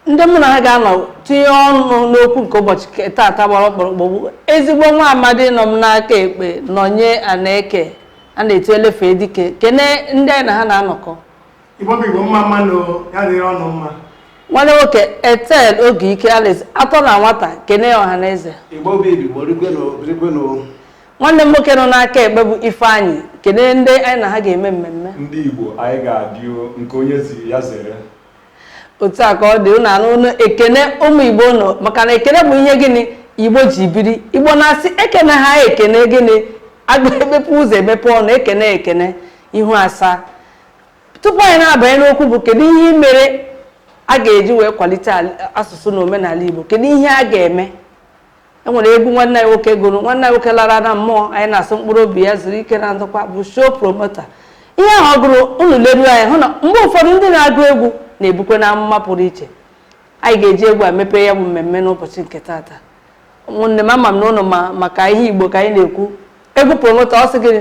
ndị mụ na ha ga-anọ tinye ọnụ n'okwu nke ụbọchị nke taata gbara ọkpụrụkpụ bụ ezigbo nwa amadi nọ m n'aka ekpe nọnye aneke a na-etu elefe dike kene ndị anyị na ha na-anọkọ igbo bụ igbo mma mma nụ ya dịrị ụnụ mma nwanne nwoke etel oge ike alex atọ na nwata kene ya ọha na eze igbo bụ igbo rigwenu rigwenu nwanne m nwoke nọ n'aka ekpe bụ Ifeanyị kene ndị anyị na ha ga-eme mmemme ndị Igbo anyị ga-adị nke onye ziri ya zere otu a ka ọ dị ụnụ anụ ụnụ ekene ụmụ Igbo ụnụ maka na ekene bụ ihe gịnị Igbo ji biri Igbo na-asị ekene ha ekene gịnị agba emepe ụzọ emepe ọnụ ekene ekene ihu asaa tupu anyị na-abanye n'okwu bụ kedu ihe mere a ga-eji wee kwalite asụsụ na omenala Igbo kedu ihe a ga-eme e nwere egwu nwanne anyị nwoke gụrụ nwanne anyị nwoke lara na mmụọ anyị na-asị mkpụrụ obi ya zuru ike na ndokwa bụ show promoter ihe ahụ ọ gụrụ unu leru anya ị hụ na mgbe ụfọdụ ndị na-agụ egwu na-ebukwanụ amụma pụrụ iche anyị ga-eji egwu a mepee ya bụ mmemme n'ụbọchị nke taata ụmụnne m ama m na ụnụ ma maka ihe igbo ka anyị na-ekwu egwu promoter ọ sị gịnị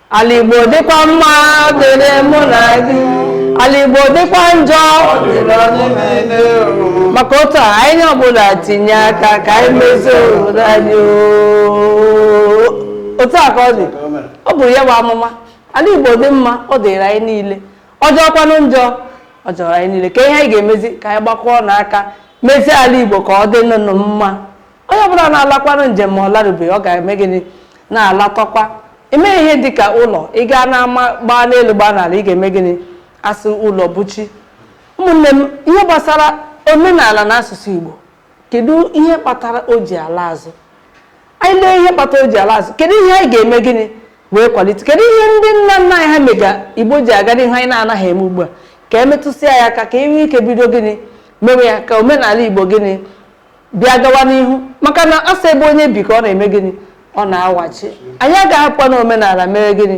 Ala Igbo dịkwa mma dịrị mụ na gị ala Igbo dịkwa njọ maka otu a onye ọbụla tinye aka ka anyị mezie obodo anyị otu a ka ọ dị ọ bụrụ ya bụ amụma ala Igbo dị mma ọ dịrị anyị niile ọ jọọkwanụ njọ ọ jọrọ anyị niile kee ihe anyị ga-emezi ka anyị gbakọọnụ aka mezie ala Igbo ka ọ dịnụnụ mma onye ọbụla na-alakwanụ njem ma ọ larubeghị ọ ga-eme gịnị na-alakọkwa eme ihe dị ka ụlọ ị gaa n'ama gbaa n'elu gbaa n'ala ị ga-eme gịnị a sị ụlọ bụ chi ụmụnne m ihe gbasara omenala na asụsụ Igbo kedu ihe kpatara o ji ala azụ anyị lee ihe kpatara o ji ala azụ kedu ihe anyị ga-eme gịnị wee kwalite kedu ihe ndị nna nna anyị ha mega Igbo ji aga n'ihu anyị na-anaghị eme ugbu a ka e metụsịa ya aka ka e nwee ike bido gịnị mewe ya ka omenala Igbo gịnị bịa gawa n'ihu maka na a sị ebe onye bi ka ọ na-eme gịnị ọ na-awachi anyị agaghị apụ na omenala mee gịnị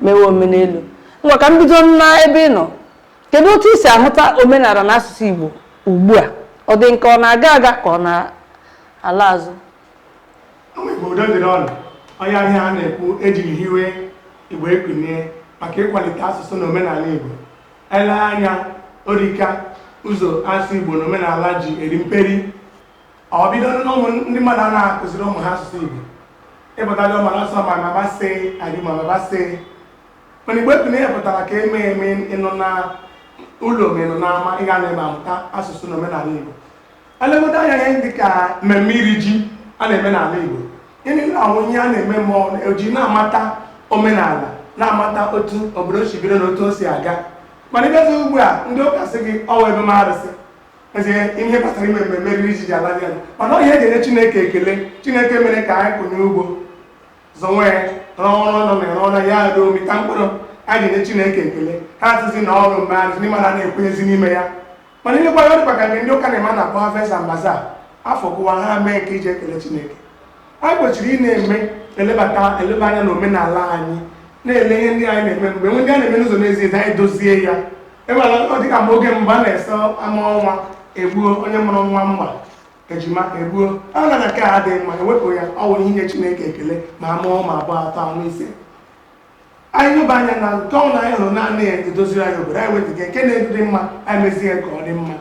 mewe omenelu ngwa ka m bido na ebe ị nọ kedu otu i si ahụta omenala na asụsụ Igbo ugbu a ọ dị nke ọ na-aga aga ka ọ na-ala azụ obodo dịrị ụnụ ọ ihe a a na-ekwu e jiri hiwe Igbo ekunie maka ịkwalite asụsụ na omenala Igbo E lee anya ọ rị ka ụzọ asụsụ Igbo na omenala ji eri mperi ọ bido n'ụmụ ndị mmadụ a na-akụziri ụmụ ha asụsụ Igbo ịpụtago ma n'ọsọ ma mama sị adị ma baba sị mana Igbo ekunie pụtara ka e mee ị nọ na ụlọ ma ị nọ n'ama ị ga na-eme amụta asụsụ na omenala Igbo Elegodo anya ihe dị ka mmemme iri ji a na-eme n'ala Igbo gịnị na-ahụ ihe a na-eme ma ọ ji na-amata omenala na-amata otu obodo si bido na otu o si aga mana ịbịazi ugbu a ndị ụka sị gị ọ wụ ime arụsị ezie ihe kpatara ime mmemme iri ji ji ala dị ala mana ọ ihe eji enye chineke ekele chineke mere ka anyị kụnye ugbo zọnwe ya rụọ ọrụ nọ na ere ọrụ ya ruo mịta mkpụrụ anyị ji enye chineke ekele ha asịzi na ọ wụ ime arụsị n'ime a na-ekwenyezi n'ime ya mana i lekwa ya ọ dịkwa ka nke ndị ụka na-eme na-akpọ Harvest and Bazaar afọ kụwa ha mee nke iji ekele Chineke anyị kwesịrị ị na-eme elebata eleba anya na omenala anyị na-ele ihe ndị anyị na-eme e nwee ndị a na-eme n'ụzọ na-ezighi ezi anyị dozie ya enwere ọ dịka mgbe oge mgbe a na-asị a mụọ nwa egbuo onye mụrụ nwa mma ejima egbuo ya na nke a adịghị mma ewepụ ya ọ wụrụ inye Chineke ekele ma a mụọ ma abụọ atọ anọ ise anyị nyoba anya na nke ọ na anyị hụrụ na-anaghị edoziri anyị obodo anyị wepụ ya nke na-edị mma anyị mezie ya ka ọ dị mma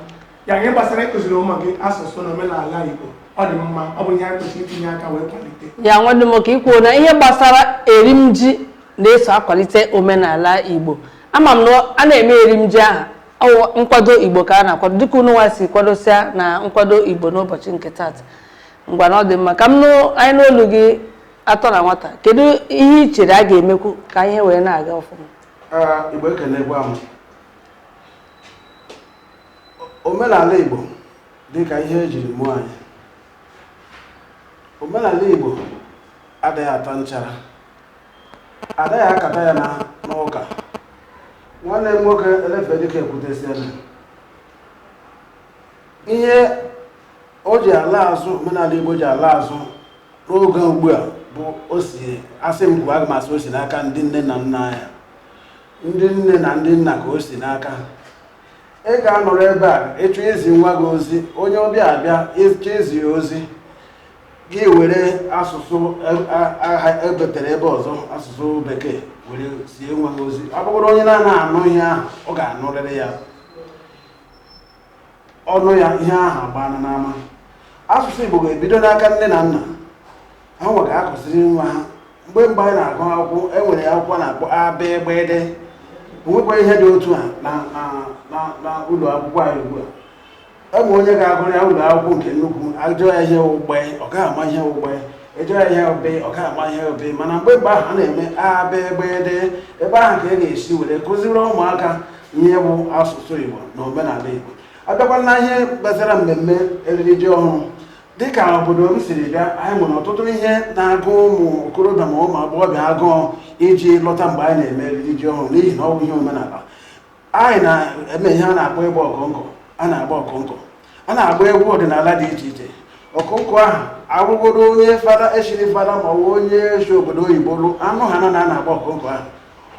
ya ihe gbasara ịkụziri ụmụ gị asụsụ na omenala Igbo ọ dị mma ọ bụ ihe anyị kwesịrị itinye aka wee kwalite ya nwanne m ka i kwuo na ihe gbasara erim ji na-eso akwalite omenala Igbo ama m na a na-eme erim ji ahụ ọ wụ nkwado Igbo ka a na-akwado dịka unu nwa si kwadosia na nkwado Igbo n'ụbọchị nke taata ngwa na ọ dị mma ka anyị nụ olu gị atọ na nwata kedu ihe i chere a ga-emekwu ka ihe wee na-aga ọfụma igbo ekelekwa m omenala igbo dịka ihe ejiri mụọ anyị omenala igbo adịghị ata nchara adịghị akata ya n'ụka nwanne m nwoke elefedike ekwutesiela ihe o ji ala azụ omenala igbo ji ala azụ n'oge ugbu a bụ o si asị m kwuo aga m asị o si n'aka ndị nne na nna ya ndị nne na ndị nna ka o si n'aka ị ga-anọrọ ebe a ịchọ izi nwa gị ozi onye ọbịa abịa ịchọ izi ya ozi gị were asụsụ e- a- aha ebetere ebe ọzọ asụsụ bekee were zie nwa gị ozi ọ bụrụ onye na-anaghị anụ ihe ahụ ọ ga-anụrịrị ya ọ nụ ya ihe ahụ agbaana n'ama asụsụ Igbo ga-ebido n'aka nne na nna ha nwa ga-akụziri nwa ha mgbe mgbe anyị na-agụ akwụkwọ e nwere akwụkwọ na-akpọ abegbede o nwekwa ihe dị otu a na ụlọ akwụkwọ anyị ugbu a o nwee onye ga-agụrua ụlọ akwụkwọ nke nnukwu ajụọ ya ihe wụ gbe ọ gaghị ama ihe wụ gbe ajụọ ya ihe wụ be ọ gaghị ama ihe wụ be mana mgbe mgbe ahụ a na-eme abegbede ebe ahụ ka e ga-esi were kụziri ụmụaka ihe bụ asụsụ igbo na omenala igbo abịakwa na ihe gbasara mmemme eriri ji ọhụrụ dịka obodo m siri bịa anyị nwere ọtụtụ ihe na-agụ ụmụ okorobịa ma ụmụ agbọghọbịa agụụ iji lọta mgbe anyị na-eme eriri ji ọhụrụ n'ihi na ọ bụ ihe omenala anyị na-eme ihe a na-akpọ ịgba ọkọnkọ a na-agba ọkọnkọ a na-agba egwu ọdịnala dị iche iche ọkọnkọ ahụ abụgodo onye fada e chiri fada ma ọ bụ onye si obodo oyibo lọ anụ ha na a na-agba ọkọnkọ ahụ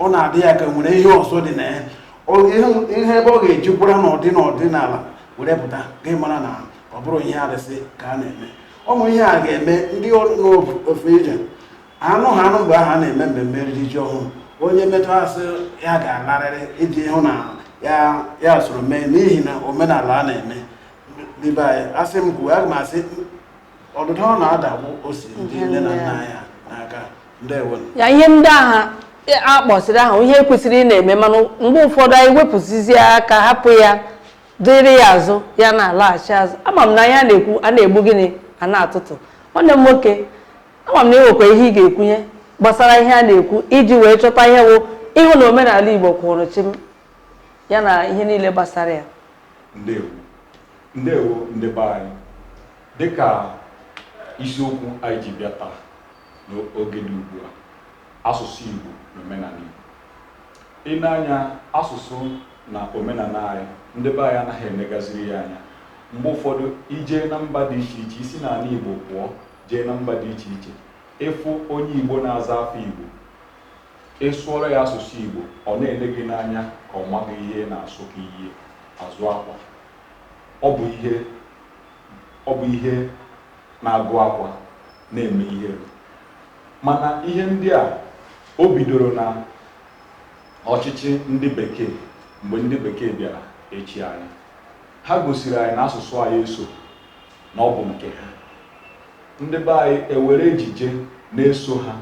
ọ na-adị ya ka nwere ihe ọzọ dị na ya Ọ- ihe- ihe ebe ọ ga-ejikwara n'ọdị n'ọdịnala were pụta gị mara na ọ bụghị ihe arụsị ka a na-eme ụmụ ihe a ga-eme ndị nọ n'ofe ije anụ ha anụ mgbe ahụ a na-eme mmemme iri ji ọhụrụ onye metụ a sị ya ga-alarịrị iji hụ na ya ya soro mee n'ihi na omenala a na-eme n'ebe anyị a sị m kwuo aga m asị ọdụdụ ọ na-adagbu o si ndị nne na nna anyị ha n'aka ndewo ya ihe ndị ahụ a kpọsịrị ahụ ihe kwesịrị ị na-eme mana mgbe ụfọdụ anyị wepụsizie aka hapụ ya dịrị ya azụ ya na-alaghachi azụ ama m na ihe a na-ekwu a na-egbu gịnị a na-atụtụ nwanne m nwoke ama m na enwekwa ihe ị ga-ekwunye gbasara ihe a na-ekwu iji wee chọta ihe wụ ịhụ na omenala Igbo kwụrụ chịm ya na ihe niile gbasara ya ndewo ndewo ndị be anyị dịka isiokwu anyị ji bịa taa n'oge dị ugbu a asụsụ Igbo na omenala Igbo i nee anya asụsụ na omenala anyị ndị be anyị anaghị enegaziri ya anya mgbe ụfọdụ i jee na mba dị iche iche i si n'ala Igbo pụọ jee na mba dị iche iche ị fụ onye Igbo na-aza afa Igbo ị sụọrọ ya asụsụ Igbo ọ na-ele gị n'anya ka ọ maghị ihe ị na-asụ ka ihe azụ akwa ọ bụ ihe ọ bụ ihe na-agụ akwa na-eme ihere mana ihe ndị a o bidoro na ọchịchị ndị bekee mgbe ndị bekee bịara ịchị anyị ha gosiri anyị na asụsụ anyị eso na ọ bụ nke ha ndị be anyị ewere ejije na-eso ha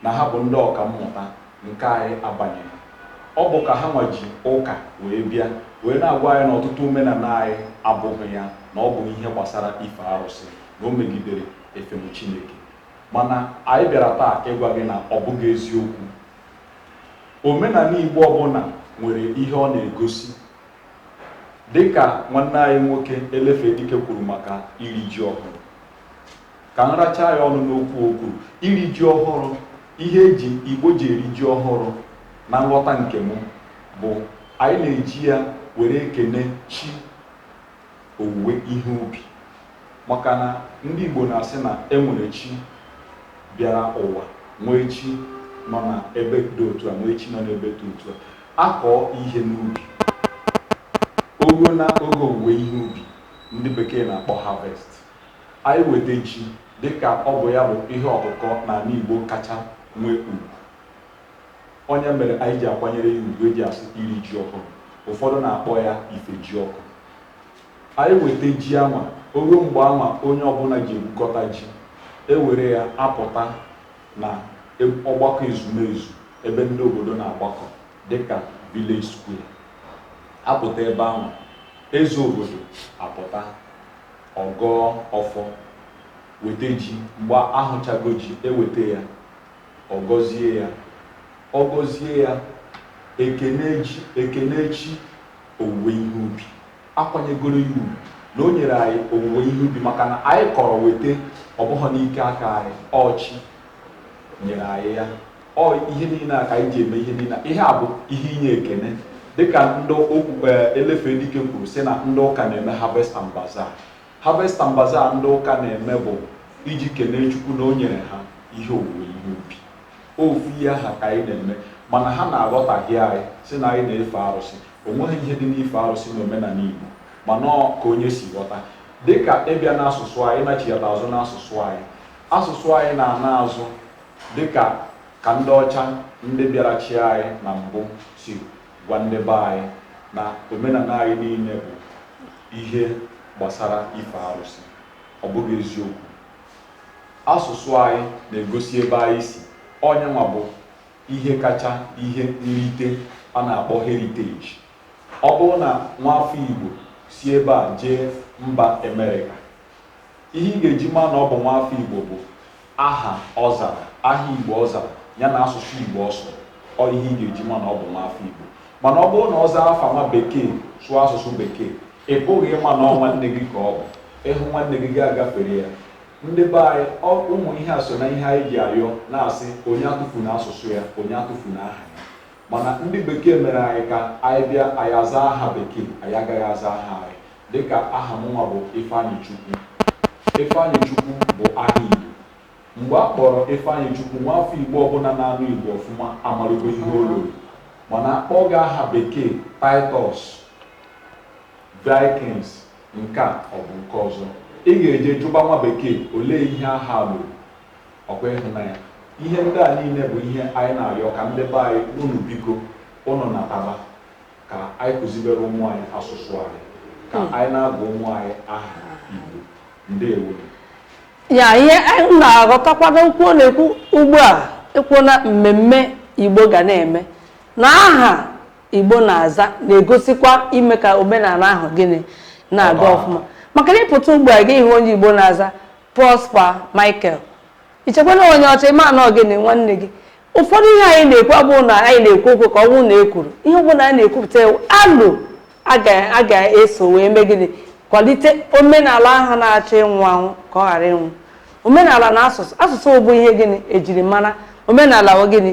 na ha bụ ndị ọka mmụta nke anyị abanyeghị ọ bụ ka ha nwa ji ụka wee bịa wee na-agwa anyị na ọtụtụ omenala anyị abụghị ya na ọ bụ ihe gbasara ife arụsị na o megidere efem Chineke mana anyị bịara taa ịgwa gị na ọ bụghị eziokwu omenala Igbo ọbụla nwere ihe ọ na-egosi Dịka nwanne anyị nwoke Elefedike kwuru maka iri ji ọhụrụ, ka m rachaa ya ọnụ n'okwu o kwuru. Iri ji ọhụrụ, ihe e ji Igbo ji eri ji ọhụrụ na nghọta nke m bụ anyị na-eji ya were ekene chi owuwe ihe ubi maka na ndị Igbo na-asị na e nwere chi bịara ụwa nwee chi nọ na ebe dị otu a nwee chi nọ n'ebe dị otu a A kọọ ihe n'ubi, o ruo na oge owuwe ihe ubi, ndị bekee na-akpọ harvest, anyị weta ji dịka ọ bụ ya bụ ihe ọkụkọ n'ala Igbo kacha nwee ugwu. Ọ ya mere anyị ji akwanyere ya ugwu e ji asị iri ji ọhụrụ. Ụfọdụ na-akpọ ya Ifejiọkụ. Anyị weta ji anwa, o ruo mgbe anwa onye ọbụla ji ebukọta ji, e were ya apụta na ọgbakọ ezumezu ebe ndị obodo na-agbakọ dịka village square a pụta ebe anwa eze obodo apụta ọ gọọ ọfọ weta ji mgbe a hụchago ji e weta ya ọ gọzie ya ọ gọzie ya e kenee chi owuwe ihe ubi A kwanyegoro ya ugwu na o nyere anyị owuwe ihe ubi maka na anyị kọrọ weta, ọ bụghị n'ike aka anyị, ọ Chi nyere anyị ya. Ọ ihe niile a ka anyị ji eme ihe niile a. Ihe a bụ ihe inye ekene dịka ndị okwu e, Elefedike kwuru sị na ndị ụka na-eme Harvest and Bazaar. Harvest and Bazaar ndị ụka na-eme bụ iji kenee Chukwu na o nyere ha ihe owuwe ihe ubi. Ofu ihe aha ka anyị na-eme mana ha na-aghọtahie anyị sị na anyị na-efe arụsị O nweghị ihe dị n'ife arụsị n'omenala Igbo mana ọ ka onye si ghọta dịka ị bịa n'asụsụ anyị ị nachighata azụ n'asụsụ anyị asụsụ anyị na-ana azụ dịka ka ndị ọcha ndị bịara chịa anyị na mbụ si gwa ndị be anyị na omenala anyị niile bụ ihe gbasara ife arụsị ọ bụghị eziokwu asụsụ anyị na-egosi ebe anyị si ọ ya nwa bụ ihe kacha ihe nrite a na-akpọ heritage. Ọ bụrụ na nwafọ Igbo si ebe a jee mba Emerịka, ihe ị ga-eji ma na ọ bụ nwafọ Igbo bụ aha ọ zara, aha Igbo ọ zara, ya na asụsụ Igbo ọ sụrụ. Ọ ihe ị ga-eji ma na ọ bụ nwafọ Igbo. Mana ọ bụrụ na ọ zaa afa nwa Bekee, sụọ asụsụ Bekee, ị pụghị ịma na ọ nwanne gị ka ọ bụ. Ị hụ nwanne gị, gị agafere ya. Ndị be anyị, ọ ụmụ ihe a so na ihe anyị ji ayọ na-asị onye atụfuna asụsụ ya, onye atụfuna aha ya. Mana ndị bekee mere anyị ka anyị bịa anyị aza aha bekee, anyị agaghị aza aha anyị. Dịka aha mụnwa bụ Ifeanyịchukwu. Ifeanyịchukwu bụ aha Igbo. Mgbe a kpọrọ Ifeanyịchukwu, nwafọ Igbo ọbụla na-anụ Igbo ọfụma amarụgo ihe o loro. Mana a kpọọ gị aha bekee Titus, Vikings, nke a ọ bụ nke ọzọ, ị ga-eje jụba nwa bekee olee ihe aha a lụrụ, ọ kwa ịhụnanya. Ihe ndị a niile bụ ihe anyị na-ayọ ka ndị be anyị unu biko unu nataba ka anyị kụzibere ụmụ anyị asụsụ anyị ka anyị na-agụ ụmụ anyị aha Igbo. Ndewo. ya ihe anyị na-aghọtakwanụ n'okwu ọ na-ekwu ugbu a ekwuo na mmemme igbo ga na-eme na aha Igbo na-aza na-egosikwa ime ka omenala ahụ gịnị na-aga ọfụma maka na ị pụta ugbu a gị hụ onye Igbo na-aza Prosper Michael i chekwa na onye ọcha ị ma na ọ gịnị nwanne gị ụfọdụ ihe anyị na-ekwu abụghị na anyị na-ekwu okwu ka ọ bụrụ na e kwuru ihe ọ bụla anyị na-ekwupụta alo a ga-eso wee mee gịnị kwalite omenala ahụ na-achọ ịnwụ anwụ ka ọ ghara ịnwụ omenala na asụsụ asụsụ bụ ihe gịnị ejiri mara omenala gịnị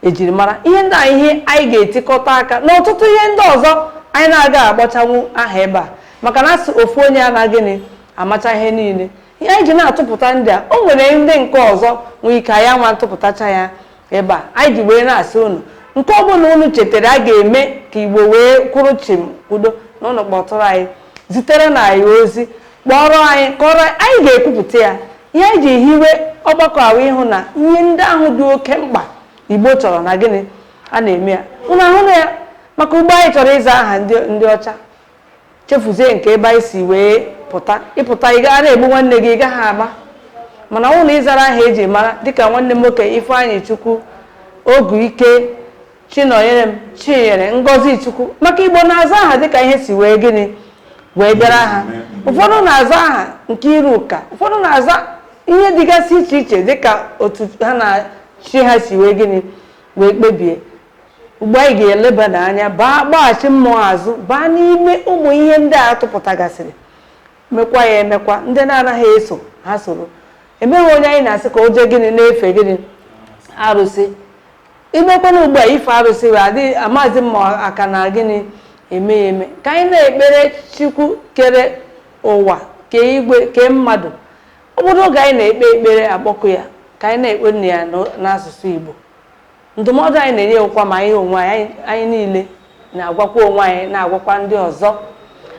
ejiri mara ihe ndị a ihe anyị ga-etikọta aka na ọtụtụ ihe ndị ọzọ anyị na-agaghị agbachanwu aha ebe a maka na a sị ofu onye anaghị gịnị amacha ihe niile ihe anyị ji na-atụpụta ndị a o nwere ndị nke ọzọ nwee ike anyị nwa atụpụtacha ya ebe a anyị ji wee na-asị unu nke ọbụla unu chetara a ga-eme ka igbo wee kwụrụ chịm udo na ụlọ kpọtụrụ anyị ziterenụ anyị ozi kpọrọ anyị kọrọ anyị ga-ekwupụta ya Ihe anyị ji hiwe ọgbakọ a wụ ịhụ na ihe ndị ahụ dị oke mkpa Igbo chọrọ na gịnị a na-eme ya unu ahụna ya maka ugbu a anyị chọrọ ịza aha ndị ọcha chefuzie nke ebe anyị si wee pụta ị pụta ị ga na-egbu nwanne gị ị gaghị ama mana ọ bụrụ ị zara aha eji mara dịka nwanne m nwoke Ifeanyịchukwu Oguike Chinọnyerem Chinyere Ngọzichukwu maka igbo na-aza aha dịka ihe si wee gịnị wee bịara ha ụfọdụ na-aza aha Nkeiruka ụfọdụ na-aza ihe dịgasị iche iche dịka otu ha na chi ha si wee gịnị wee kpebie ugbu a anyị ga-elebada anya baa gbaghachi mmụọ azụ baa n'ime ụmụ ihe ndị a tụpụtagasịrị mekwa ya emekwa ndị na-anaghị eso ha soro enweghị onye anyị na-asị ka o jee gịnị na-efe gịnị arụsị i mekwanụ ugbu a ife arụsị wee adịghị amazi m ma a ka na gịnị eme ya eme ka anyị na-ekpere chukwu kere ụwa kee igwe kee mmadụ ọ bụrụ oge anyị na-ekpe ekpere akpọkụ ya ka anyị na-ekpenụ ya n'o- n'asụsụ igbo ndụmọdụ anyị na-enye ọ kwa ma anyị onwe anyị anyị- anyị niile na-agwakwa onwe anyị na-agwakwa ndị ọzọ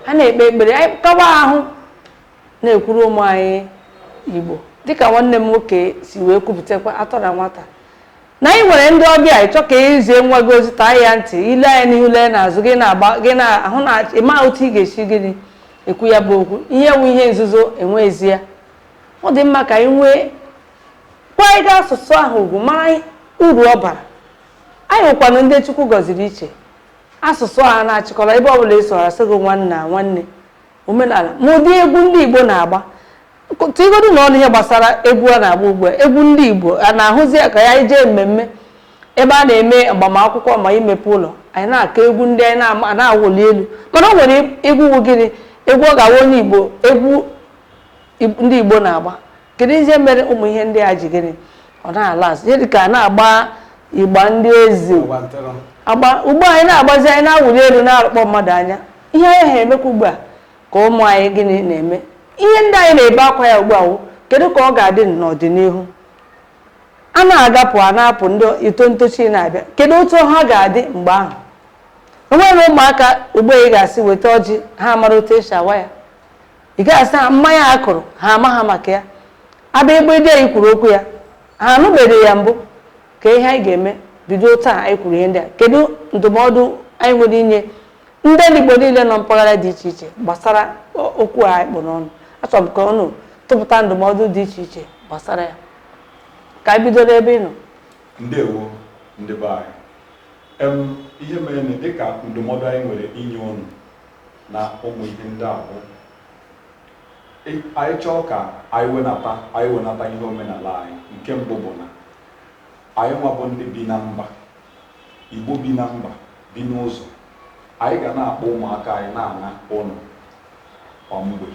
a na-ekpe ekpere anyị kawa ahụ na-ekwuru ụmụ anyị igbo dịka nwanne m nwoke si wee kwupụtakwa atọ na nwata na anyị nwere ndị ọbịa ị chọọ ka i zie nwa gị ozi taa ya ntị i lee anya n'ihu lee n'azụ gị na-agba gị na-ahụ na ị ma otu ị ga-esi gịnị ekwu ya bụ okwu ihe wụ ihe nzuzo enweghịzi ya ọ dị mma ka anyị wee kwanyere asụsụ ahụ ugwu mara uru ọ bara anyị wụkwanụ ndị chukwu gọziri iche asụsụ a na-achịkọrọ ebe ọ bụla ị sụrụ a sị gị nwanna nwanne omenala ma ụdị egwu ndị Igbo na-agba tigodunụ ọnụ ihe gbasara egwu a na-agba ugbu a egwu ndị Igbo a na-ahụzi ka ya i jee mmemme ebe a na-eme agbamakwụkwọ ma imepe ụlọ anyị na-akụ egwu ndị anyị na-awụli elu mana ọ nwere egwu wu gịnị egwu ọ ga-awa onye Igbo egwu ndị Igbo na-agba kedu ihe mere ụmụ ihe ndị a ji gịnị ọ na-ala azụ ihe dịka a na-agba igba ndị eze agba ugbu a anyị na-agbazi anyị na-awụli elu na-arụkpọ mmadụ anya ihe anyị ha emekwa ugbu a ka ụmụ anyị gịnị na-eme ihe ndị anyị na-ebe akwa ya ugbu a wụ kedu ka ọ ga-adị n'ọdịnihu a na-agapụ a na-apụ ndị ito ntochi na-abịa kedu otu ha ga-adị mgbe ahụ enwere ụmụaka ugbu a ị ga-asị weta ọjị ha mara otu esi awa ya ị ga-asị ha mmanya a kụrụ ha amaha maka ya abịa igbe ide anyị kwuru okwu ya ha anụbeghị ya mbụ ka ihe anyị ga-eme bido taa anyị kwuru ihe ndị a kedu ndụmọdụ anyị nwere inye ndị Igbo niile nọ mpaghara dị iche iche gbasara okwu a anyị kpụ n'ọnụ achọrọ m ka unu tụpụta ndụmọdụ dị iche iche gbasara ya ka anyị bido n'ebe ị nọ ndewo ndị be anyị ihe mere na dịka ndụmọdụ anyị nwere inye unu na ụmụ ihe ndị a bụ anyị chọọ ka anyị wenata anyị wenata ihe omenala anyị nke mbụ bụ na anyị nwa bụ ndị bi na mba Igbo bi na mba bi n'ụzọ. Anyị ga na-akpọ ụmụaka anyị na-ana ụnọ kwa mgbe.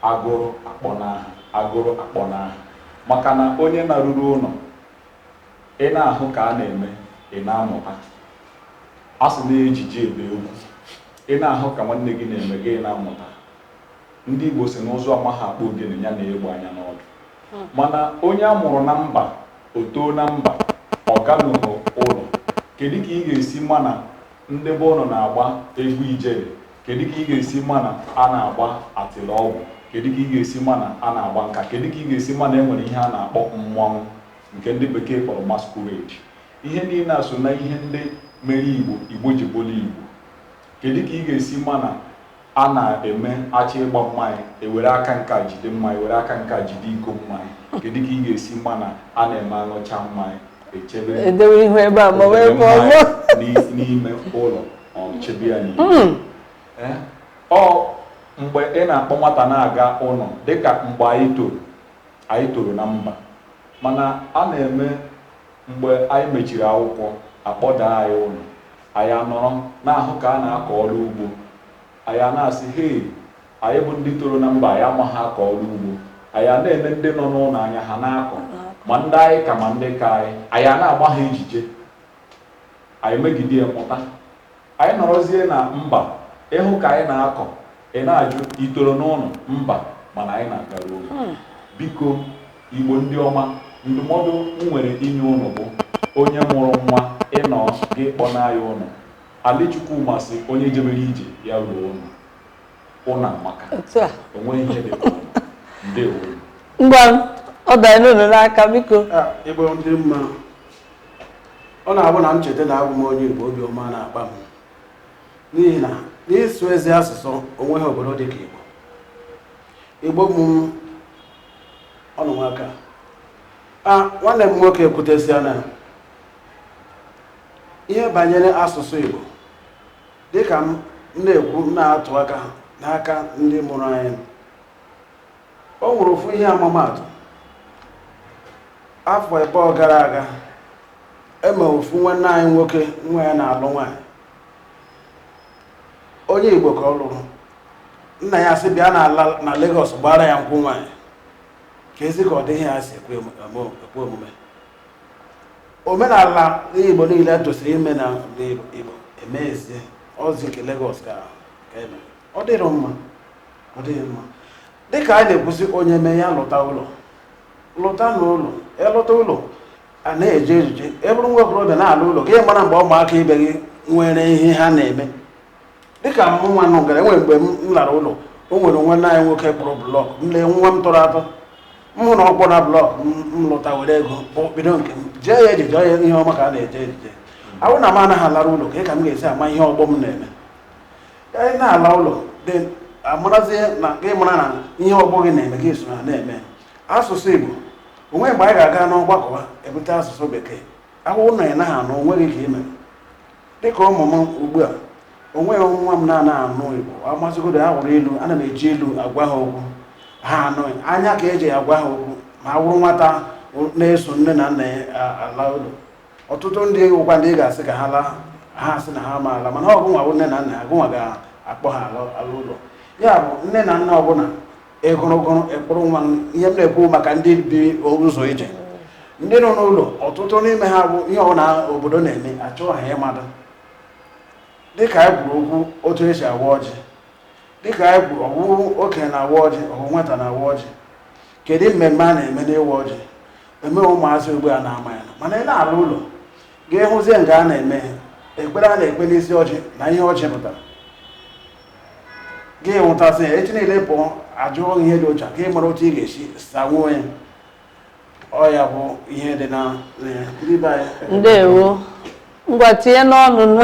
Agụrụ akpọnaa ha, agụrụ akpọnaa ha. Maka na onye naruru ụlọ, ị na-ahụ ka a na-eme, ị na-amụta. A sị na ejije ebe egwu, ị na-ahụ ka nwanne gị na-eme, gị na-amụta. Ndị Igbo sị n'ụzụ amaghị akpụ ogene ya nee egbe anya n'ọdụ mana onye a mụrụ na mba o too na mba ọ ganụghị ụlọ kedu ka ị ga-esi ma na ndị be unu na-agba egwu ijele kedu ka ị ga-esi ma na a na-agba atịlọgwụ kedu ka ị ga-esi ma na a na-agba nkwa kedu ka ị ga-esi ma na e nwere ihe a na-akpọ mmọnwụ nke ndị bekee kpọrọ masquerade ihe niile a so na ihe ndị mere igbo igbo ji bụrụ igbo kedu ka ị ga-esi ma na A na-eme a chọọ ịgba mmanya, e were aka nke a jide mmanya, were aka nke a jide iko mmanya. Kedu ka ị ga-esi ma na a na-eme aṅụcha mmanya, echebe edewe ihu ebe a ma wee bụ ọzọ n'ime ụlọ um, chebe ya n'ime hmm. eh? ọ mgbe ị na-akpọ nwata na-aga ụlọ dịka mgbe anyị toro anyị toro na mba mana a na-eme Mgbe anyị mechiri akwụkwọ, a kpọdaa anyị ụlọ. Anyị anọrọ na-ahụ ka a na-akọ ọrụ ugbo. Anyị ana-asị, Hei! Anyị bụ ndị toro na mba anyị amaghị akọ ọrụ ugbo. Anyị ana-ele ndị nọ n'ụlọ anya, ha na-akọ, ma ndị anyị ka ma ndị ka anyị. Anyị ana-agba ha ejije. Anyị megide ya, mụta. Anyị nọrọzie na mba, ị hụ ka anyị na-akọ, ị na-ajụ, i toro n'ụlọ? Mba, mana anyị na-agaru ụlọ. Biko, Igbo ndị ọma, ndụmọdụ m nwere inye ụnụ bụ, onye mụrụ nwa, ị nọọ, gị kpọnaa ya ụlọ. Ali Chukwuma sị onye jebere ije, ya ruo ụlọ. Ụlọ amaka. Otu a. O nweghị ihe dị ka ụlọ. Ndewo. Ngwa, ọ danyere unu n'aka, biko. Ah, Igbo ndị mma, ọ na-abụ na m cheta na abụ m onye Igbo obi ọma na-akpa m n'ihi na n'ịsụ ezi asụsụ o nweghị obodo dị ka Igbo Igbo bụ ọnụ nwaka a nwanne m nwoke ekwutesiana ihe banyere asụsụ Igbo dịka m na-ekwu na-atụ aka n'aka ndị mụrụ anyị O nwere ofu ihe ama m atụ afọ ịbụọ gara aga em ofu nwanne anyị nwoke nwa ya na-alụ nwaanyị onye Igbo ka ọ lụrụ nna ya sị bịa na Lagos gbaara ya nkwụ nwaanyị keezi ka ụdị ihe ya-esi ekwe omume omenala Igbo niile tosiri ime na Igbo e mezie ọ zi nke Lagos ka eme ọ dịrị mma ọ dịghị mma dịka a na-ekwuzi onye mee ya lọta ụlọ lọta na ụlọ e lọta ụlọ a na-eje ejije ị bụrụ nwa okorobịa na-ala ụlọ gị mara mgbe ụmụaka ibe gị nwere ihe ha na-eme dịka mụ nwa nụ gara e nwere mgbe m lara ụlọ o nwere nwanna anyị nwoke kpụrụ blọk m lee nwa m tọrọ atọ m hụ na ọ kpụrụ blọk m lọta were ego bido nke m jee ya ejije onye ihe ọma ka a na-eje ejije a wụ na m anaghị alara ụlọ kee ka m ga-esi ama ihe ọgbọ m na-eme ka anyị na-ala ụlọ gị amarazie na ka ị mara na ihe ọgbọ gị na-eme gị so na na-eme asụsụ igbo o nwe mgbe anyị ga-aga n'ọgbakọ e bute asụsụ bekee a wụrụ na ị naghị anụ o nweghị ka i me dịka ụmụ m ugbu a o nweghị nwa m na-anaghị anụ igbo ọ masịgodo ya wụrụ ilu ana m eji ilu agwa ha okwu ha anụ anya ka e ji agwa ha okwu ma a wụrụ nwata na-eso nne na nna ya ala ụlọ ọtụtụ ndị wụkwa ndị ị ga-asị ka ha laa ha asị na ha ama ala mana ọ gụnwa bụ nne na nna ha gụnwa ga-akpọ ha ala ala ụlọ ya bụ nne na nna ọbụla egụrụgụrụ ị kpọrọ nwa. ihe m na-ekwu maka ndị bi ụzọ ije ndị nọ n'ụlọ ọtụtụ n'ime ha bụ ihe ọbụla obodo na-eme achọghị ha ịmata dịka anyị kwuru okwu otu e si awa ọjị dịka anyị kwuru ọ wụrụ okenye na-awa ọjị ọ wụ nwata na-awa ọjị kedu mmemme a na-eme n'ịwa ọjị eme ụmụazị ugbu a na-ama ya mana ị na-ala ụlọ gị hụzie nke a na-eme ekpere a na-ekpe n'isi ọjị na ihe ọjị pụtara gị wọtasịa echi niile ị pụọ a jụọ ihe dị otu a ka ị mara otu ị ga-esi sanwuo ya ọ ya bụ ihe dị na na ya. Ndị be anyị, ndewo ngwa tinye n'ọnụ nụ.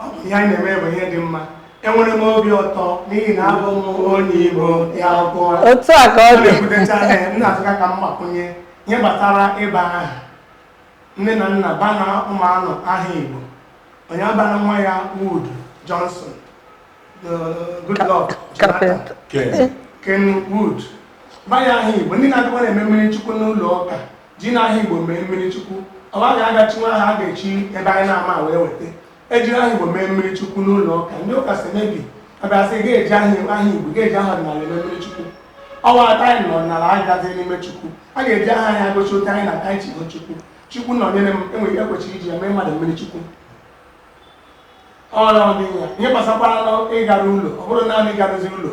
ọ bụ ihe anyị na-eme bụ ihe dị mma enwere m obi ụtọ n'ihi na abụ m onye igbo ya akwụkwọ otu a ka ọ ọ dị na-ekwutecha ya m na-asịkwa ka m gbakwunye ihe gbasara ịba aha nne na nna baanụ ụmụ ụnụ aha igbo onye abana nwa ya wood johnson the Goodluck Jonathan. kapịnta ken wood ba ya aha igbo ndị na-adịkwa na-eme mmiri chukwu n'ụlọ ụka Jinụ aha Igbo mee mmiri chukwu, ọ gaghị aga chinwe aha a ga-esi ebe anyị na-ama wee weta. E jiri aha Igbo mee mmiri chukwu n'ụlọ ụka, ndị ụka si mebi abịa sị ga-eji aha aha Igbo ga-eji aha ọdịnala eme mmiri chukwu. Ọnwa atọ anyị nọ n'ala anyị gazie mmiri chukwu, a ga-eji aha anyị agụchi otu anyị na-ata anyị chigo chukwu. Chukwunọnyerem, enweghị ekwesi iji eme mmadụ mmiri chukwu. Ọrụ ọ dị ya. Ihe gbasakwara n'ịgaru ụlọ, ọ bụrụ naanị ịgaruzi ụlọ,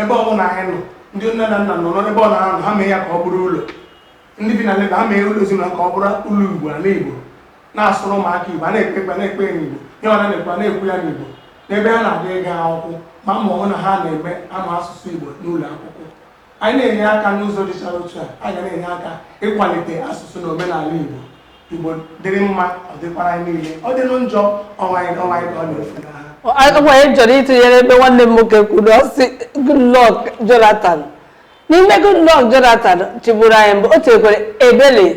ebe ọ bụla anyị nọ, ndị nne na nna nọ n'ebe ọ na-anọ, ha mee ya ka ọ bụrụ ụlọ. ndị bi na Lagos ha mee ụlọ ezinụlọ ka ọ bụrụ ụlọ Igbo ala Igbo na-asụrụ ụmụaka Igbo a na-ekpe ekpere na-ekpe ya n'Igbo ihe ọ na-ekwu na-ekwu ya n'Igbo n'ebe ha na-aga ịga akwụkwọ ma ma ọ hụ na ha na-eme ama asụsụ Igbo n'ụlọ akwụkwọ anyị na-enye aka n'ụzọ dịchara otu a anyị ga na-enye aka ịkwalite asụsụ na omenala Igbo Igbo dịrị mma ọ dịkwara anyị niile ọ dịrị njọ ọ wụ anyị onwe anyị ka ọ na-efunaha Ọ- ọ- ọ- anyị chọrọ ịtụnyere ebe nwanne m nwoke kwuru ọ sị Goodluck Jonathan N'ime Goodluck Jonathan chịburu anyị mbụ, o tinyekwere Ebele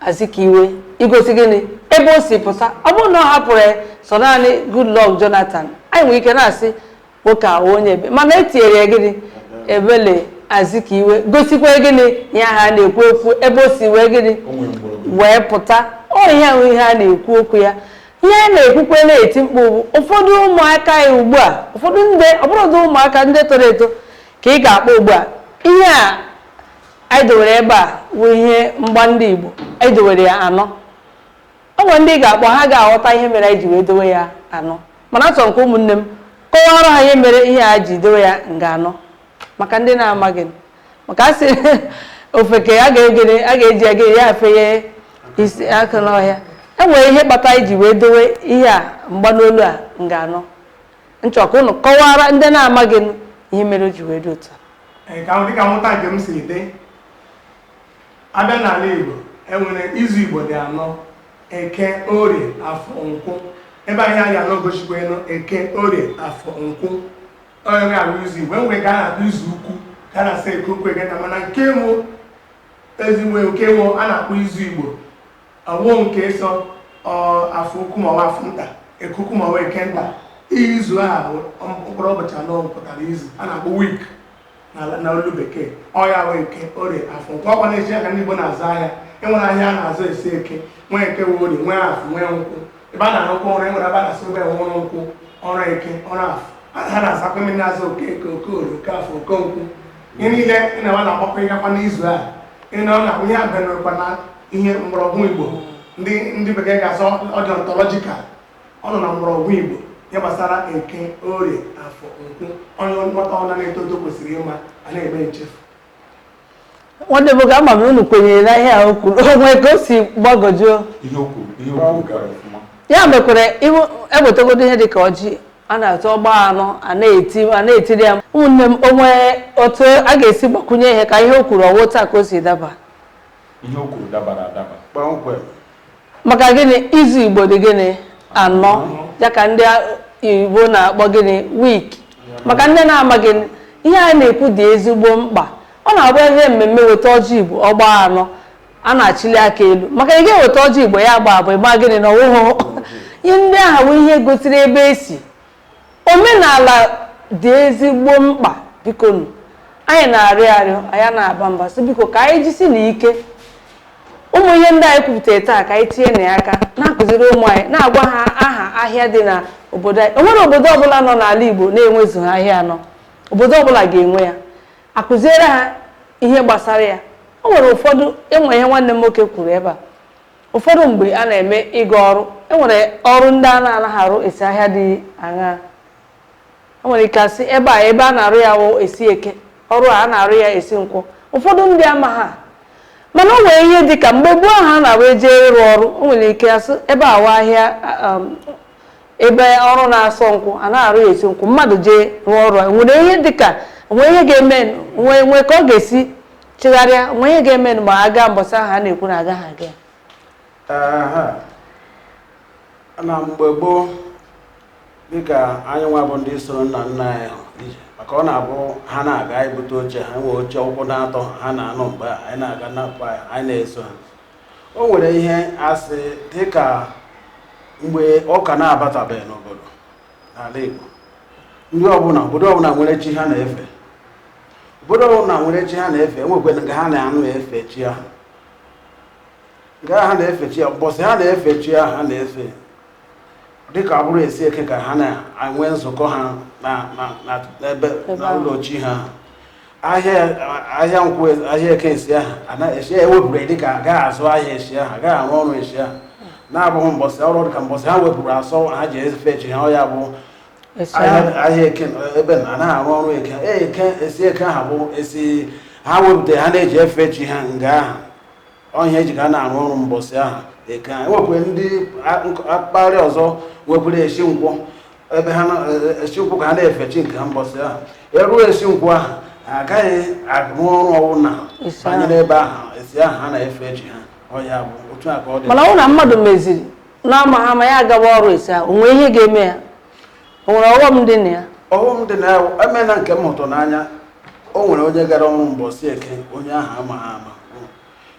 Azikiwe igosi gịnị ebe o si pụta. Ọ bụrụ na ọ hapụrụ ya sọ naanị Goodluck Jonathan, anyị nwere ike na-asị nwoke a wụ onye ebe mana e tinyere ya gịnị Ebele Azikiwe gosikwa gịnị ihe ahụ a na-ekwu ekwu ebe o si wee gịnị O nwere mgbọrọgwụ. wee pụta ọ ihe ahụ ihe a na-ekwu okwu ya ihe a na-ekwukwe na-eti mkpu bụ ụfọdụ ụmụaka ya ugbu a ụfọdụ ndị ọ bụrụdị ụmụaka ndị toro eto ka ị ga-akpọ ugbu a ihe a anyị dowere ebe a bụ ihe mgba ndị Igbo anyị dowere ya anọ o nwere ndị ị ga-akpọ ha ga-aghọta ihe mere anyị ji wee dowe ya anọ mana achọrọ m ka ụmụnne m kọwaara ha ihe mere ihe a ji dowe ya nga anọ maka ndị na-amaghị maka a sị ofeke a ga-eji aga ya efenye isi aka n'ọhịa e nwere ihe kpatara anyị ji wee dowe ihe a mgba n'olu a nga anọ m chọ ka ụnụ kọwara ndị na-amaghị nụ ihe mere o ji wee dị otu a. Ee, ka dịka mmụta nke m si dị abịa n'ala Igbo enwere izu Igbo dị anọ eke orie afọ nkwụ bụ ihe anyị na-egosikwanụ eke orie afọ nkwụ ọ ya wụ izu Igbo enwere nke a na-akpọ izu ukwu nke a na-asị eke ukwu eke nta mana nke wụ ezigbo nke wụ a na-akpọ izu Igbo Ọwụ nke so afọ ukwu ma ọ bụ afọ nta, eke ukwu ma ọ bụ eke nta. Izu a bụ mkpụrụ ụbọchị anọ pụtara izu a na-akpọ week na na olu bekee. Ọ ya bụ eke, orie, afọ, nkwụ. Ọkwa na-echi ya ka ndị Igbo na-azụ ahịa. E nwere ahịa a na-azụ esi eke, nwee eke, nwee orie, nwee afọ, nwee nkwụ. Ebe a na-arụkwa ọrụ, e nwere ebe a na-asị ebe ọrụ nkwụ, ọrụ eke, ọrụ afọ. A na- ha na-asakwa mmiri na-aza Okeke, Okorie, Okeafọ, Okenkwụ. Ihe niile ị na-agba na-agbakwa ịgakwa n'izu a. Ị na ọ na-akwụ ihe a bịanụkwa na ihe mgbọrọgwụ igbo ndị ndị bekee ga-asị ọ dị ontological ọ nọ na mgbọrọgwụ igbo ihe gbasara eke orie afọ nkwụ onye nwata ọbụla na-eto eto kwesịrị ịma a na-eme nchefu nwanne m ka ama m unu kwenyere na ihe a o kwuru onwe ka o si gbagojuo ihe okwu ihe okwu gara ọfụma ya mekwere iwu ewetagodo ihe dịka ọjị a na-atụ ọ gbaa anọ a na-eti a na-etiri ya ụmụnne m onwe otu a ga-esi gbakwunye ihe ka ihe o kwuru ọwụ otu a ka o si daba ihe o kwuru dabara adaba kpọmkwem maka gịnị izu igbo dị gịnị anọ ya ka ndị igbo na-akpọ gịnị week maka ndị na-amaghị ihe a na-ekwu dị ezigbo mkpa ọ na-abụ e jee mmemme weta ọjị igbo ọ gbaa anọ a na-achịli aka elu maka ị ga-eweta ọjị igbo ya agbaa abụọ ịma gịnị na ọwụhụ ihe ndị ahụ bụ ihe gosiri ebe esi omenala dị ezigbo mkpa bikonu anyị na-arịọ arịọ anyị na-aba mba sị biko ka anyị jisi na ike ụmụ ihe ndị anyị kwupụtara taa ka anyị tinye na ya aka na-akụziri ụmụ anyị na-agwa ha aha ahịa dị na obodo anyị o nwere obodo ọbụla nọ n'ala Igbo na-enwezughị ahịa anọ obodo ọbụla ga-enwe ya akụziere ha ihe gbasara ya o nwere ụfọdụ enwe ihe nwanne m nwoke kwuru ebe a Ụfọdụ mgbe a na-eme ịga ọrụ, e nwere ọrụ ndị a na-anaghị arụ esi ahịa dị aṅaa? E nwere ike asị ebe a ebe a na-arụ ya wụ esi eke, ọrụ a a na-arụ ya esi nkwụ. Ụfọdụ ndị ama ha. Mana o nwere ihe dị ka mgbe gboo ahụ a na-awụ e jee ịrụ ọrụ, o nwere ike asị ebe a wụ ahịa um, ebe ọrụ na-asọ nkwụ a na-arụ ya esi nkwụ mmadụ jee rụọ ọrụ a nwere ihe dị ka nwee ihe ga-eme nwee nwee ka ọ ga-esi chigharịa nwee ihe ga-eme ma a gaa mbọsị ahụ a na-ekwu na agaghị aga ya Ehe. na mgbe gboo dịka anyị nwa bụ ndị soro nna nna anyị ha ije maka ọ na-abụ ha na-aga anyị bute oche ha nwee oche ụkwụ na atọ ha na-anọ mgbe a, anyị na-aga napụ anyị anyị na-eso ha o nwere ihe asị dịka mgbe ụka na-abatabeghị n'obodo n'ala Igbo ndị ọbụla obodo ọbụla nwere chi ha na-efe obodo ọbụla nwere chi ha na-efe enwekwere nga ha na-anọ efe chi ahụ nga ha na-efe chi ya mbọsị ha na-efe chi ahụ ha na-efe dịka ọ bụrụ esi eke ka ha na-enwe nzukọ ha na- na- na- n'ebe Ebe na ahụ. ụlọ chi ha ahịa ahịa nkwọ ahịa eke esi ahụ ana- esi ahụ ewepụrụ ya dịka agaghị azụ ahịa esi ahụ agaghị arụ ọrụ esi ahụ na-abụghị mbọsị ọrụ dịka mbọsị ha wepụrụ asọ ha ji efe chi ha ọ ya bụ ahịa eke ebe na anaghị arụ ọrụ eke e, eke esi eke aha bụ esi ha wepụta ha na-eji efe chi ha nga aha ọ ihe eji ga na-arụ ọrụ mbọsị aha eke ha enwekwe ndị mpaghara ọzọ nwekwere esi nkwọ ebe ha esi e, e, nkwọ ka ha na-efe chi nke ha mbọsị aha eruo esi nkwọ ahụ agaghị arụ ọrụ ọbụla banyere ebe ahụ esi ahụ ha na-efe chi ha ọ ya bụ otu a ka ọ dị mana ọ na mmadụ meziri n'amaha ama ya agawa ọrụ esi ahụ o nwere ihe ga-eme ya o nwere ọghọm dị na ya ọghọm dị na ya emena nke m hụtụ n'anya o nwere onye gara ọrụ mbọsị eke onye ahụ amaha ama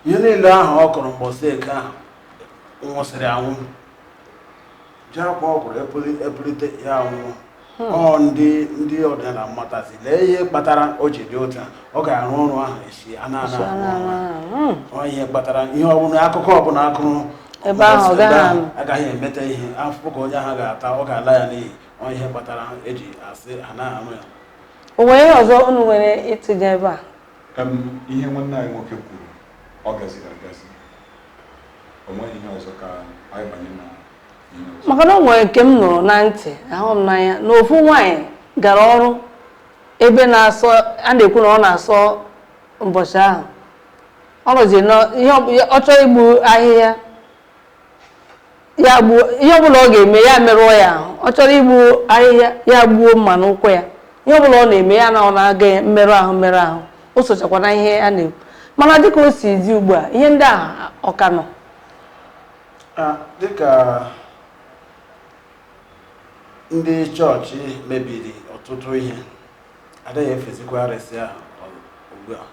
ihe niile ahụ ọ kọrọ mbọsị eke ahụ nwụsịrị anwụ ji akwa ọ kụrụ epulite ya anwụọ hmm. ọ ndị ndị ọdịnala matazi lee ihe kpatara o ji dị otu a ọ ga-arụ ọrụ ahụ esi a na-ana hmm. ọ ihe kpatara ihe ọbụla akụkụ ọbụla a kụrụ ebe ahụ agaghị emeta ihe afụfụ ka onye ahụ ga-ata ọ ga-ala ya n'iyi ọ ihe kpatara eji asị ha na-arụ ya o nwere ihe ọzọ unu nwere ịtụnye ebe a ihe nwanne anyị nwoke kwuru ọ gaziri agazi o nweghị ihe ọzọ ka anyị banye na maka na o nwere nke m nụrụ na ntị ahụ m n'anya na ofu nwaanyị gara ọrụ ebe na-asọ a na-ekwu na ọ na-asọ ụbọchị ahụ ọ nọzi na ihe ọ bụ- ya- ọ chọrọ igbu ahịhịa ya gbuo ihe ọbụla ọ ga-eme ya merụọ ya ahụ ọ chọrọ igbu ahịhịa ya gbuo mma n'ụkwụ ya ihe ọbụla ọ na-eme ya na ọ na-aga ya mmerụ ahụ mmerụ ahụ o sochakwa na ihe a na-ekwu mana dịka o si dị ugbu a ihe ndị ahụ ọ ka nọ Ah, dịka ndị chọọchị mebiri ọtụtụ ihe adịghị efezikwa arịsị ahụ ugbu a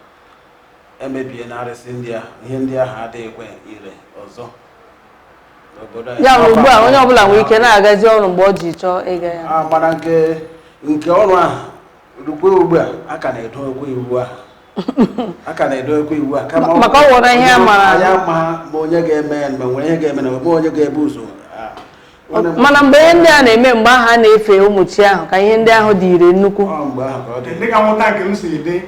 emebiena arịsị ndị ahụ ihe ndị ahụ adịghịkwa ire ọzọ n'obodo anyị. ya bụ ugbu a onye ọbụla nwere ike na-agazi ọrụ mgbe o ji chọọ ịga ya Ah, mana nke nke ọrụ ahụ rukwe ugbu a a ka na-edokwa iwu a a ka na-edokwa iwu a kama ọ- Maka o nwere ihe a mara. anyị ama ma onye ga-eme ya ma nwere ihe ga-eme na ma onye ga-ebu ụzọ Ah, nwanne m- mana mgbe ihe ndị a na-eme mgbe ahụ a na-efe ụmụ chi ahụ ka ihe ndị ahụ dị ire nnukwu ọ mgbe ahụ ka ọ dị dị ka nghọta nke m si dị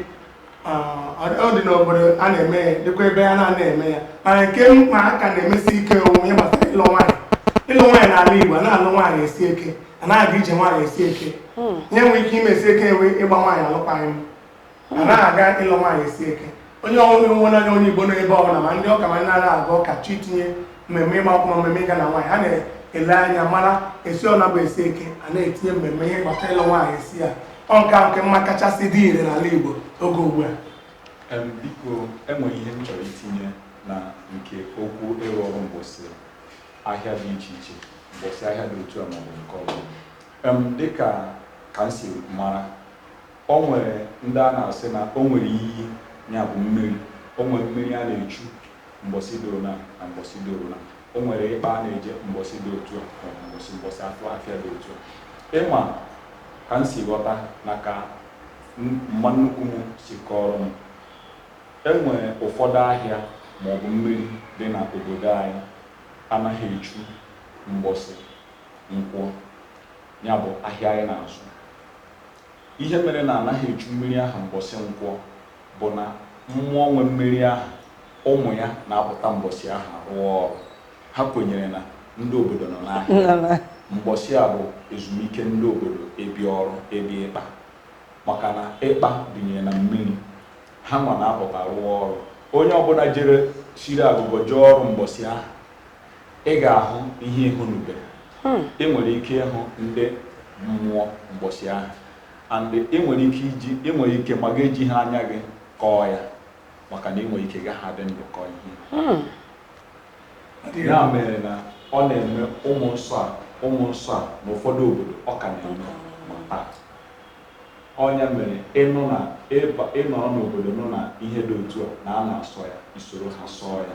ọ dị n'obodo a na-eme ya dịkwa ebe a na-ana eme ya mana nke mkpa a ka na-emesi ike onwe ya gbasara ịlụ nwaanyị ịlụ nwaanyị n'ala Igbo a na-alụ nwaanyị esi eke a na-aga ije nwaanyị esi eke hmm. ihe e nwere ike ime esi eke enwe ịgba nwaanyị alụkwaghị m a na-aga ịlụ nwaanyị esi eke onye ọhụrụ nwe n'anya onye Igbo n'ebe ọbụla ma ndị ụka ma ndị na-aga ụka chọọ itinye mmemme ịgba akwụkwọ mmemme ịga na nwaanyị ha na-ele anya mara esi ọ na-abụ esi eke a na-etinye mmemme ihe gbasara ịlụ nwaanyị esi ya ọ nke a ka m ma kachasị dị ire n'ala Igbo oge ugbu a Em, biko enwere ihe m chọrọ itinye na nke okwu ịrụ ọrụ mgbọsị ahịa dị iche iche mgbọsị ahịa dị otu a maọbụ nke ọzọ Em, dịka ka m si mara o nwere ndị a na-asị na o nwere iyi ya bụ mmiri o nwere mmiri a na-echu mgbọsị doro na na mgbọsị doro na O nwere ikpa a na-eje mbọsị dị otu a maọbụ mbọsị mbọsị afọ afịa dị otu a ị ma ka m si ghọta na ka mma nnukwu m si kọrọ m enwere ụfọdụ ahịa maọbụ mmiri dị na obodo anyị anaghị echu mbọsị nkwọ ya bụ ahịa anyị na-azụ ihe mere na anaghị echu mmiri ahụ mbọsị nkwọ bụ na mmụọ nwe mmiri ahụ, ụmụ ya na-apụta mbọsị ahụ rụọ ọrụ. Ha kwenyere na ndị obodo nọ n'ahịa. Mbọsị a bụ ezumike ndị obodo ebe ọrụ ebe ikpa maka na ikpa dịnyere na mmiri. Ha nwa na-apụta rụọ ọrụ. Onye ọbụla jere siri agụgọ jee ọrụ mbọsị ahụ, ị ga-ahụ ihe ị hụnubere. Ị nwere ike ịhụ ndị mmụọ mbọsị ahụ. and ị nwere ike iji ị nwere ike ma gị ejighị anya gị kọọ ya maka na ị nwere ike gaghị adị ndụ kọọ ihe hmm. ya mere na ọ na-eme ụmụ nsọ a ụmụ nsọ a na ụfọdụ obodo ọ ka na-eme ma taa ọ ya mere ị nụ na ị nọrọ n'obodo nụ na ihe dị otu a na a na-asọ ya i soro ha sọọ ya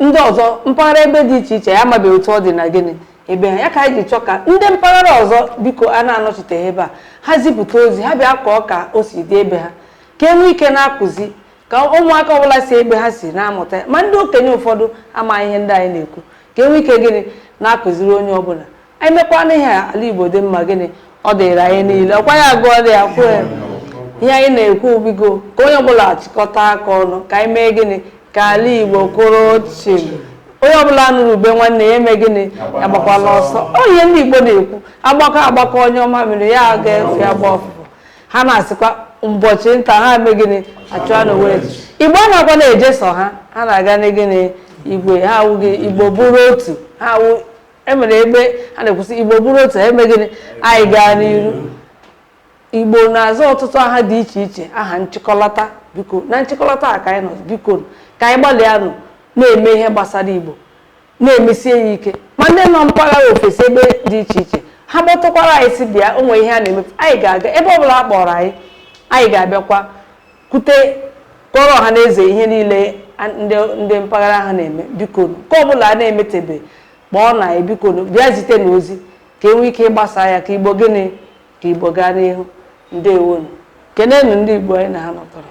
ndị ọzọ mpaghara ebe dị iche iche ya amabeghị otu ọ dị na gịnị ebe ha ya ka anyị ji chọọ ka ndị mpaghara ọzọ biko a na-anọchiteghị ebe a ha zipụta ozi ha bịa kọọ ka o si dị ebe ha ka e nwee ike na-akụzi ka ụmụaka ọbụla si ebe ha si na-amụta ma ndị okenye ụfọdụ amaghị ihe ndị anyị na-ekwu ka e nwee ike gịnị na-akụziri onye ọbụla anyị mekwana ihe a, ala igbo dị mma gịnị ọ dịrị anyị niile ọkwa ya gụọ dị ya kwuo ya ihe anyị na-ekwu biko ka onye ọbụla chịkọta aka ọnụ ka anyị mee gịnị ka ala igbo kwụrụ chim onye ọbụla nụrụ ube nwanne ya eme gịnị ya gbakwala ọsọ ọ ihe ndị igbo na-ekwu agbakọ agbakọ nyụọ mamịrị ya aga efe agba ụfụfụ ha na-asịkwa ụbọchị nta ha eme gịnị achụa n'owere igbo a na-agwa na-eje sọ ha ha na-aga na gịnị igwe ha awụghị igbo bụrụ otu ha awụ e mere ebe a na-ekwu sị igbo bụrụ otu ha eme gịnị anyị gaa n'iru igbo na-aza ọtụtụ aha dị iche iche aha nchịkọlata biko na nchịkọlata a ka anyị nọ biko ka anyị gbalịanụ na-eme ihe gbasara igbo na-emesie ya ike ma ndị nọ mpaghara ofesi ebe dị iche iche ha kpọtụkwara anyị sị bịa o nwee ihe a na-eme anyị ga-aga ebe ọ bụla a kpọrọ anyị anyị ga-abịakwa kwute kọrọ ọha na eze ihe niile ndị mpaghara ha na-eme biko nke ọ bụla a na-emetebe kpọọnụ anyị bikonụ bịa zitenụ ozi ka e nwee ike ịgbasa ya ka igbo gịnị ka igbo gaa n'ihu ndewonụ kenenụ ndị igbo anyị na ha nọtọrọ